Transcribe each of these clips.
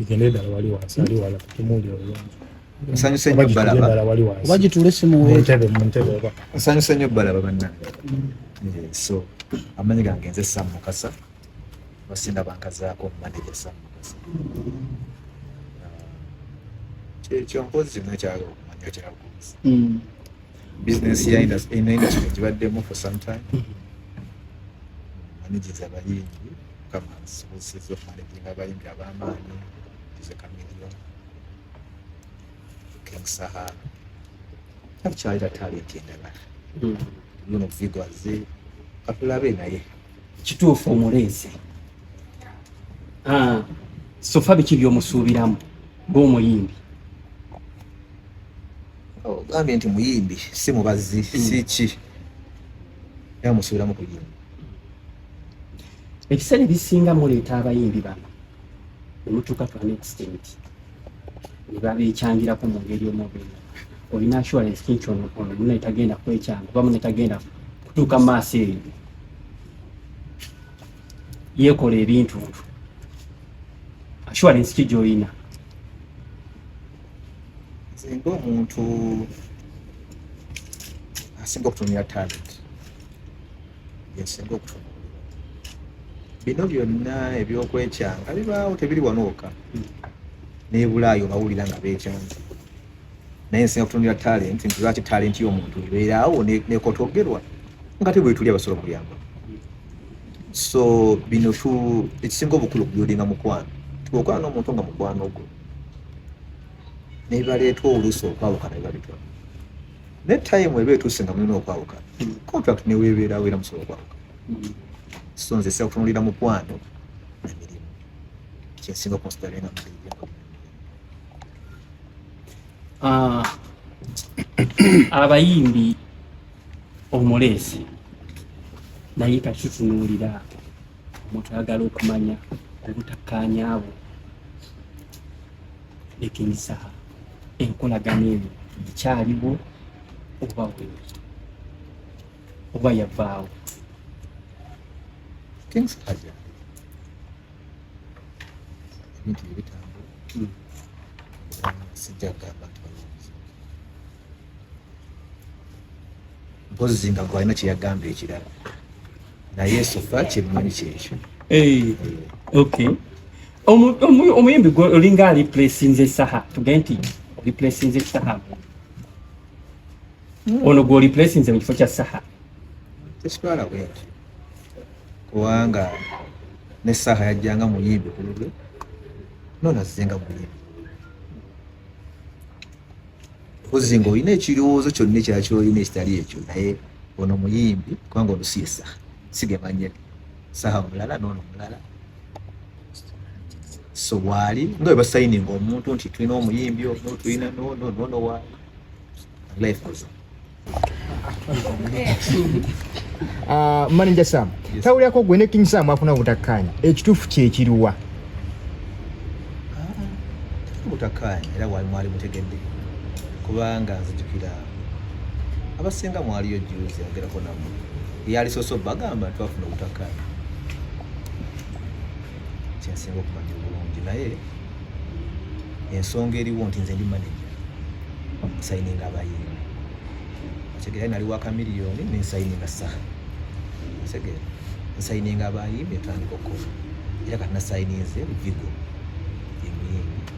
Igende dala wali wansi ali wala kutumuli olungi. Nsanyuse nnyo balaba. Oba gituule si mu weetu. Muntebe muntebe oba. Nsanyuse nnyo balaba bannange. Eh, so amanyi gange nze Sam Mukasa basinda bankazaako manager Sam Mukasa. Eh, ekyo mpozi zino ekyalo okumanya kyakuuzi. Hmm. Bizinensi ya industry enaina kino gibaddemu for some time. Hmm. Managers abayingi. mukama nsobozeza okumalekinga abayimbi ab'amaanyi ize kamiliyo king saha takyalira talenti endala hmm. luno vigo aze katulabe naye kituufu omuleese ah, sofa biki byomusuubiramu ng'omuyimbi ogambye nti muyimbi si mubazi hmm. si ki era musuubiramu kuyimba ebiseera ebisinga muleeta abayimbi bano nemutuuka to an extent nebabekyangirako mu ngeri omubiri olina assurance kinti ono ono mune tagenda kwekyanga oba mune tagenda kutuuka mu maaso eyo yekola ebintu ntu assurance ki gyolina nze nga omuntu asinga okutumira talent yasinga okutunuulira bino byonna ebyokwekyanga bibaawo tebiri wanooka hmm. nebulaayo bawulira nga bekyanga naye nsinga kutunulira talenti nti lwaki talenti y'omuntu ebeeraawo nekotogerwa nga te bwetuli abasobola okuyamba so bino tu ekisinga obukulu okubyodinga mukwano tuokwala n'omuntu nga mukwano gwo nebibaleetwa oluusi okwawukana bibalitwala ne time eba etuuse nga mulina okwawuka hmm. contract newebeerawo era musobola okwawuka hmm. so nze sira kutunulira mukwano emirimu kyensinga okunsidalenga ah, abayimbi omuleesi naye kakitunuulira omuntu ayagala okumanya obutakkaanya bwo nekinyisaha enkolagana eyo ekyaliwo oba wewe oba yavaawo things haja ebintu bye bitambula hmm. sijja kugamba nti mpozi zinga gwe alina kyeyagamba ekirala naye sofa kyemmanyi kyekyo eh, okay omuyimbi gwe olinga aliplasinze saha tuge nti oliplasinze saha hmm. ono gwe oliplasinze mu kifo kya saha tekitwala bwekyo kubanga ne saha yajjanga muyimbi ku lulwe nonazizenga muyimbi kozzi nga olina ekirowoozo kyonna ekyaki olina ekitali ekyo naye ono muyimbi kubanga olusi esaha sigemanye saha omulala noono omulala so waali nga bwe basayininga omuntu nti tulina omuyimbi ono tulina noono noono waali life goes on Ah, manager sam yes. tawulirako gwe ne king sam afuna obutakkaanya ekituufu kyekiriwa obutakkaanya ah, era wali mwali mutegedde kubanga nzijukira abasinga mwaliyo juzi agerako namu eyali soso bagamba twafuna obutakkaanya kyensinga okumanya obulungi naye ensonga eriwo nti nze ndi manager nsayininga abayimbi otegeera nali waka miliyoni nensayininga saha otegeera nsayininga abayimbi etandika okukola era kati nasayininze vigo emuyimbi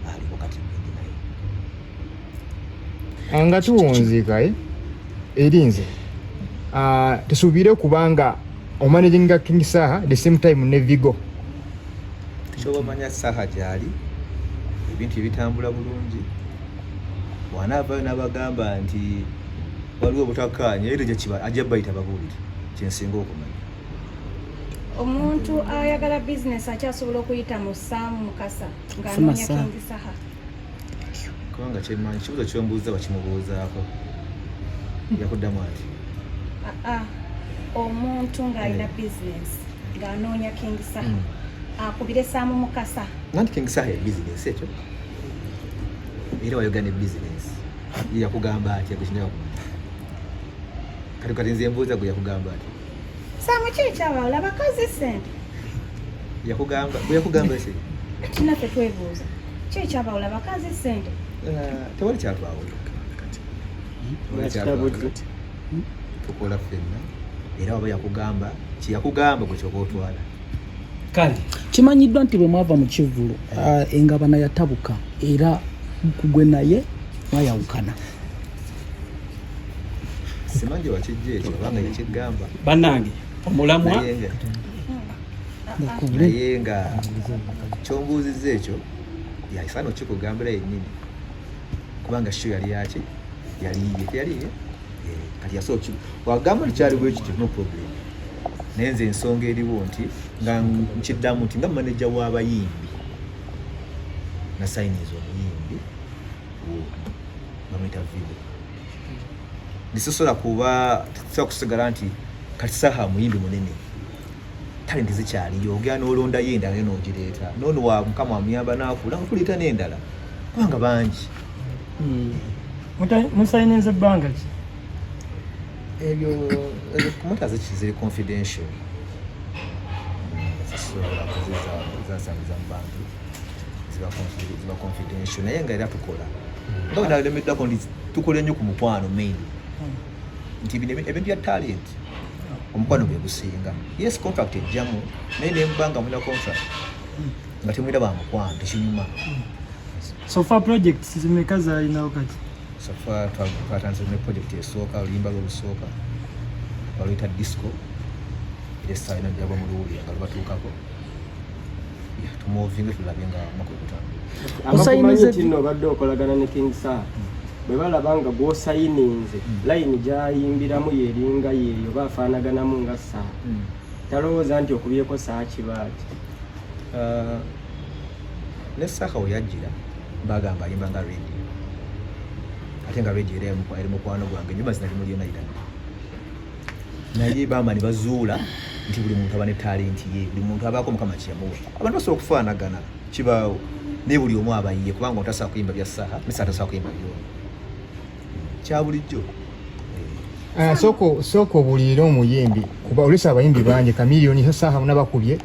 aliko kati bindi naye ah, nga tuwunzikae eh? eri nze ah, tesuubire kubanga omanaginga king saha the same time ne vigo kyoba omanya saha gyali ebintu ebitambula bulungi wanaavayo nabagamba nti waliwo obutakkaanya era gyekiba ajja bayita babuulire kyensinga okumanya omuntu ayagala bizinesi akyasobola okuyita mu saamu mukasa ng'anoonya kingi saha kubanga kyemanyi kibuzo kyombuuza wakimubuuzaako yakuddamu ati ah, ah. omuntu ng'alina eh. business ng'anoonya king saha mm. akubire saamu mukasa nanti king saha ya business ekyo era wayogane business yakugamba atya gwekinaa kati kati nze mbuuza gwe yakugamba atya Samu kiri kyawala abakazi sente. Yakugamba, yakugamba ese. Tina fe twebuuza. Kiri kyawala abakazi sente. Eh, tewali kyatwawo. Kati. Tewali kyatwawo. Hmm? Tukola fenna. Era waba yakugamba, kiyakugamba gwe kyoba otwala. Kale. Kimanyiddwa nti bwe mwava mu kivvulu ah, engabana yatabuka era kugwe naye mwayawukana. simanji wakijja ekyo obanga yekigamba bannange omulamwa naye nga kyombuuzizza ekyo yaifa nokikugambira yennyini kubanga sho yali yaki yaliye teyaliye eh, kati yasooki wagamba nti kyali bwekityo no problem naye nze ensonga eriwo nti nga nkiddamu nti nga maneja w'abayimbi nasayiniza omuyimbi bamuyita vigo bisosola kuba tusobola kusigala nti kati saha muyimbi munene talenti zikyaliyo ogera nolondayo endala naye nogireeta nono wa mukama amuyamba nakula kuleeta nendala kubanga bangi hmm. musayinenza ebbanga ki ebyo kumota ziri confidential hmm, zasasula kuziza zasangiza mu bantu ziba confidential naye nga era tukola hmm. nga wenalemeddako ndi tukola ennyo ku mukwano main hmm. nti ebintu bya talent hmm. omukwano gwe gusinga yes contract ejjamu naye nemba nga mulina contract nga temwira ba mukwano tekinyuma sofa project zimeka zalinawo kati sofa twatandise ne project esooka oluyimba lwolusooka baluyita disco era esaalina jabwa mu luwulira nga lubatuukako tumuvinge tulabe nga mwaka ogutambula obadde okolagana ne king sir bwe balaba nga gwosayininze hmm. layini gyayimbiramu yeringa yeeyo oba afaanaganamu nga saa hmm. talowooza nti okubyeko saa kibaaki uh, ne saha weyajjira bagamba ayimba nga radio ate nga radio era eri mukwano gwange nyumba zinalimulyenayirana naye bama ne bazuula nti buli muntu aba ne talenti ye buli muntu abaako mukama kyemuwa abantu basobola okufaanagana kibaawo naye buli omu abayiye kubanga otasobola kuyimba bya saha misa atasobola kuyimba byo kya bulijjo eh, soko soko buliira omuyimbi kuba olesa abayimbi bangi kamiliyoni saha nabakubye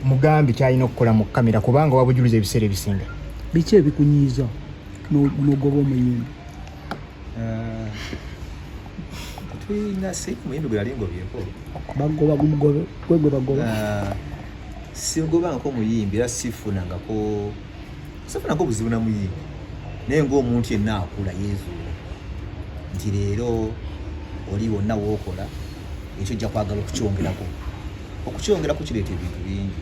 mugambi kyalina okukola mu kamera kubanga wabujuliza ebiseera ebisinga biki ebikunyiiza nogoba omuyimbi Ah, tulina si muyimbi gwe yali ngobyeko bagoba gugobe gwe gwe bagoba Ah, singobangako muyimbi era sifunangako sifunangako obuzibu na muyimbi naye ng'omuntu yenna akula yeezuula nti leero oli wonna wookola ekyo ojja kwagala okukyongerako okukyongerako kireeta ebintu bingi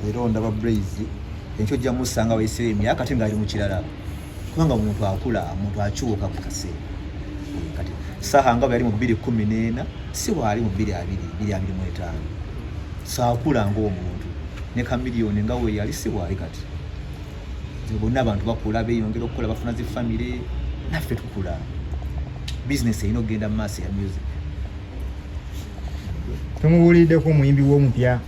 era ondaba braise enkyo ojja musanga wayisira emyaka ate ng'ali mu kirala kubanga omuntu akula omuntu akyuka mu kaseera kati saha nga bweyali mu bbiri kumi n'ena si waali mu bbiri abiri bbiri abiri mu etaano saakula ngaomuntu ne kamiliyoni nga weyali si waali kati bonna abantu bakula beyongera okukola bafuna zi famire naffe tukula bizinesi erina okugenda mu maaso ya music tumubuuliddeko omuyimbi w'omupya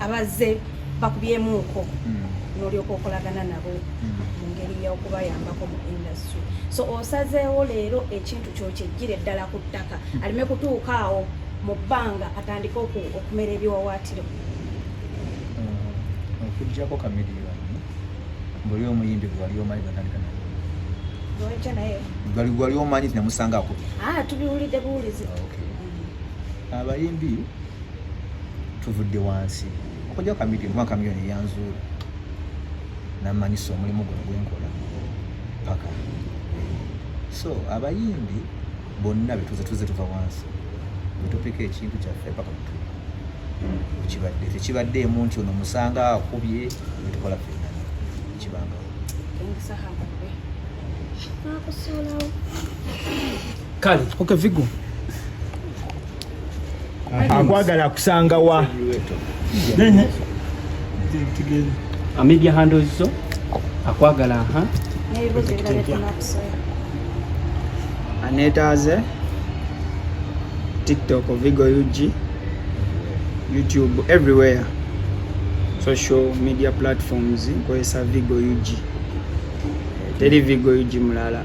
abazze bakubyemuuko hmm. nolyoka okolagana nabo hmm. mu ngeri yokubayambako mu industry so osazeewo leero ekintu kyokyejjire ddala ku ttaka hmm. aleme kutuuka awo mu bbanga atandike okumera ebiwawaatiro okujjako kamiliyoni mbuli omuyimbi gwewali omanyi gwatandika naye bali gwali omanyi namusanga akubi ah, tubiwulidde buwulizi ah, abayimbi tuvudde wansi okujja kamidi kuba kamiyoni eyanzuula namanyisa omulimu guno gwenkola paka so abayimbi bonna betuze tuze tuva wansi betopeka ekintu kyaffe paka mutu ekibadde tekibaddeemu nti ono musanga akubye betukola fena ekibanga kale okay vigo akwagala akusanga wa amedia handles zo akwagala aha anetaaze tiktok vigo ug youtube everywhere social media platforms nkozesa vigo ug teri vigo ug mulala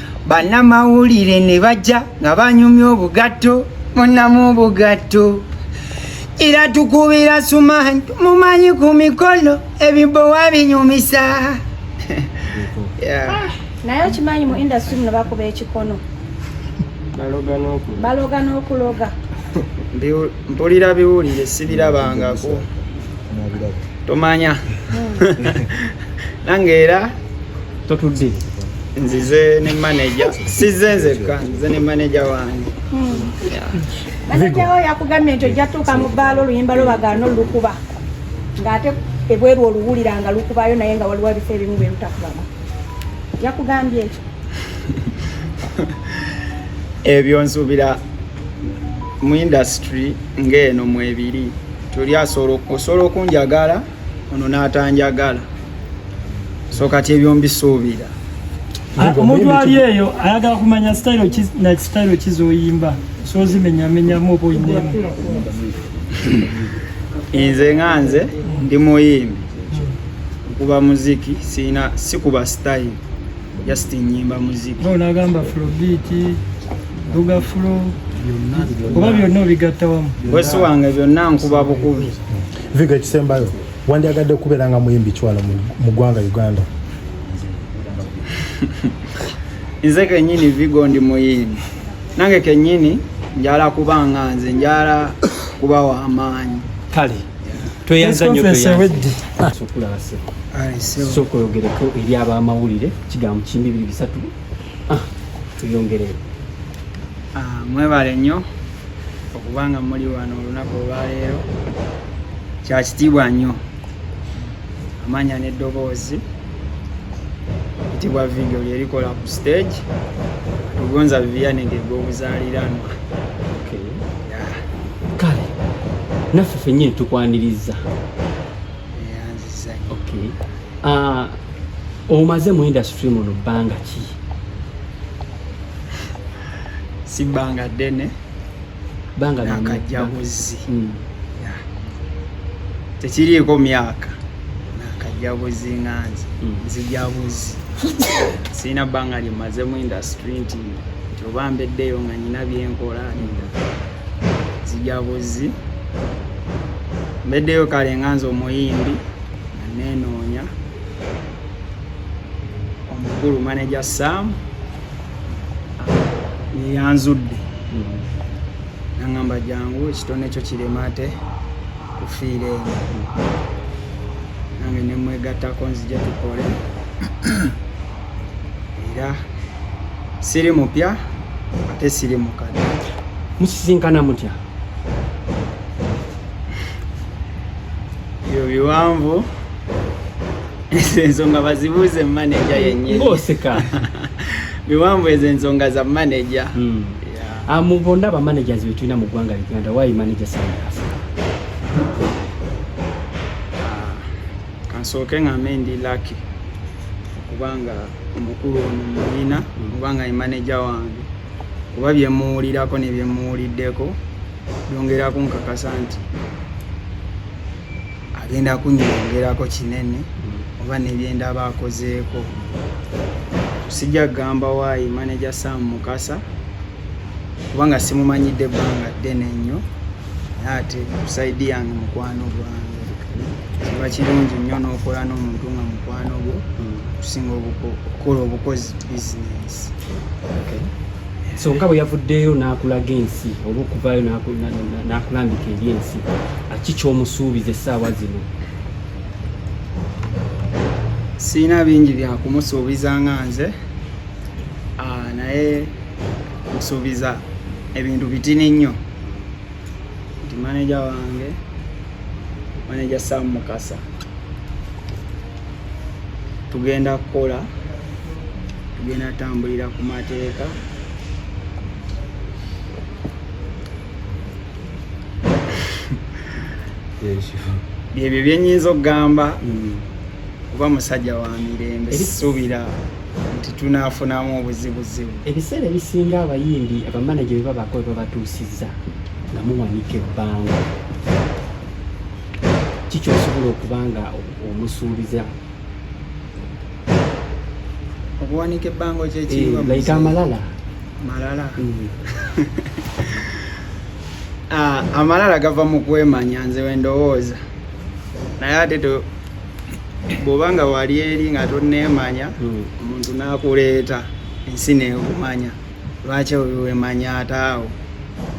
bannamawulire ne bajja nga banyumya obugatto munamu obugatto era tukubira sumanyi mumanyi ku mikono ebibowa binyumisa ah, naye okimanyi mu industry muno bakuba ekikono baloga n'okuloga mpulira biwulire sibirabangako tomanya hmm. nange era totudde nzize ne manager size nzekka nze ne manager wange hmm. manager wo yakugambye nti ojja tuuka mu bbaala oluyimba lwo bagaana olukuba ng'ate ebweru oluwulira nga lukubayo naye nga waliwo ebifo ebimu bye lutakubamu yakugambye ekyo ebyo nsuubira mu indasitry ng'eno mwebiri tuli osobola okunjagala ono n'atanjagala so kati ebyo mbisuubira ah, omuntu ali eyo ayagala kumanya sitayiro kizoyimba sozimenyamenyamu oba oyinemu nze nga nze ndi muyimbi okuba muziki sina sikuba sitayiro just nyimba muziki nagamba flobiti duga flo oba byonna obigattawamu wesi wange byonna nkuba bukubi viga ekisembayo wandyagadde okubeera nga muyimbi kiwala mu ggwanga uganda nze kenyini vigo ndi muyimbi nange kenyini njala kuba nga nze njala kuba wamaanyi kale tweyanzanyosooka oyogereko eri abamawulire kigambo kimbi biri bisatu ah, tuyongereo ah, mwebale nnyo okuba nga muli wano olunaku olwaleero kya kitiibwa nnyo amanya n'eddoboozi kitiibwa vidiyo lyerikola ku stage tugonza biyanenge gw'obuzaaliranwa kale naffe fenyini tukwaniriza ah, omaze mu industry muno bbanga ki si bbanga ddene bbanga nakajjabuzi hmm. tekiriiko myaka nakajjabuzi nga nze hmm. nzijabuzi sirina bbanga lyemaze mu industry nti nti oba mbeddeyo nga nyina byenkola nzijabuzi mbeddeyo kale nga nze omuyimbi nanenoonya omukulu manager sam yeyanzudde nangamba jangu ekitone ekyo kirema ate kufiira eno nange nemwegattako nzija tukole era siri mupya ate siri mukadde musisinkana mutya ebyo biwanvu ezo ensonga bazibuuze maneja yennyini ng'oseka biwanvu ezo ensonga za maneja hmm. ah, mu bonna abamanagers betulina mu ggwanga uganda wayi manager sandasa ah, kansooke ngambe ndi laki okubanga omukulu ono muyina hmm. kubanga ye maneja wange kuba byemuwulirako nebyemuwuliddeko byongeraku nkakasa nti agenda kunyongerako kinene oba nebyenda aba akozeeko sijja kugamba waayi maneja sam mukasa kubanga simumanyidde ebbanga ddene nnyo naye ate kusaidi yange mukwano gwange kiba kirungi nnyo n'okola n'omuntu nga mukwano gwo okusinga okukola obukozi bizinesi ensonga bwe yavuddeyo n'akulaga ensi oba okuvaayo n'akulambika eri ensi ki kyomusuubiza essaawa zino sirina bingi byakumusuubiza nga nze ah, naye musuubiza ebintu bitini nnyo nti maneja wange maneja sam mukasa tugenda kukola tugenda tambulira ku mateeka byebyo byenyinza okugamba mm. kuba musajja wa mirembe sisuubira nti tunafunamu obuzibuzibu ebiseera ebisinga abayimbi abamanaje bebabako bebabatuusiza nga muwanika ebbanga kiki osobola okuba nga omusuubiza okuwanika ebbango kyekiyika eh, amalala malala mm. ah, amalala gava mu kwemanya nze wendowooza naye ate bwoba nga wali eri nga toneemanya mm. omuntu nakuleeta ensi neekumanya lwaki wemanyata awo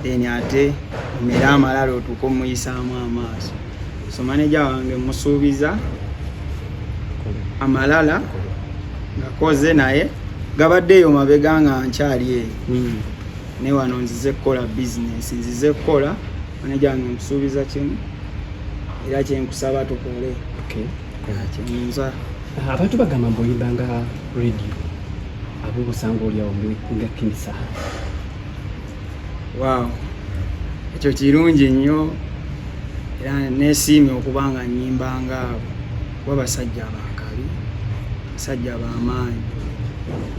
then ate omere amalala otuuka omuyisaamu amaaso so maneja wange musuubiza amalala ngakoze naye gabadde eyo mabega nga nkyali eyo hmm. naye wano nzize kukola bizinesi nzize kukola maneja wange musuubiza kimu era kyenkusaba tukole kyenza abantu bagamba mbu oyimba nga radio Abu Busanga oli awo nga kinisa. Wow. Ekyo kirungi nnyo era nesiimye okuba nga nyimba nga kuba basajja abakabi basajja bamaanyi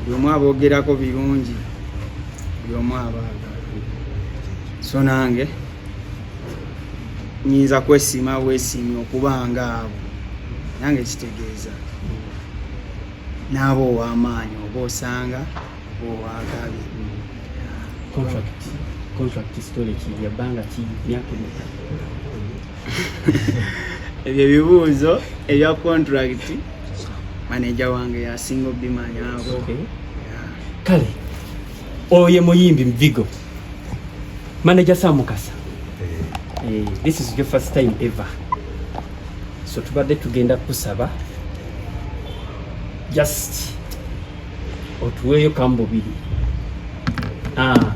buli omu aboogerako birungi buli omu abaagala so nange nyinza kwesiima bwesiimye okuba nga abo nange kitegeeza n'aba ow'amaanyi oba osanga oba ow'akabi ebyo ebibuuzo ebya contract maneja wange yasinga obimanyaako kale oyo muyimbi mvigo Manager Sam Mukasa. Eh. eh, this is your first time ever. So tubadde tugenda kusaba just otuweeyo kambubiri. Ah.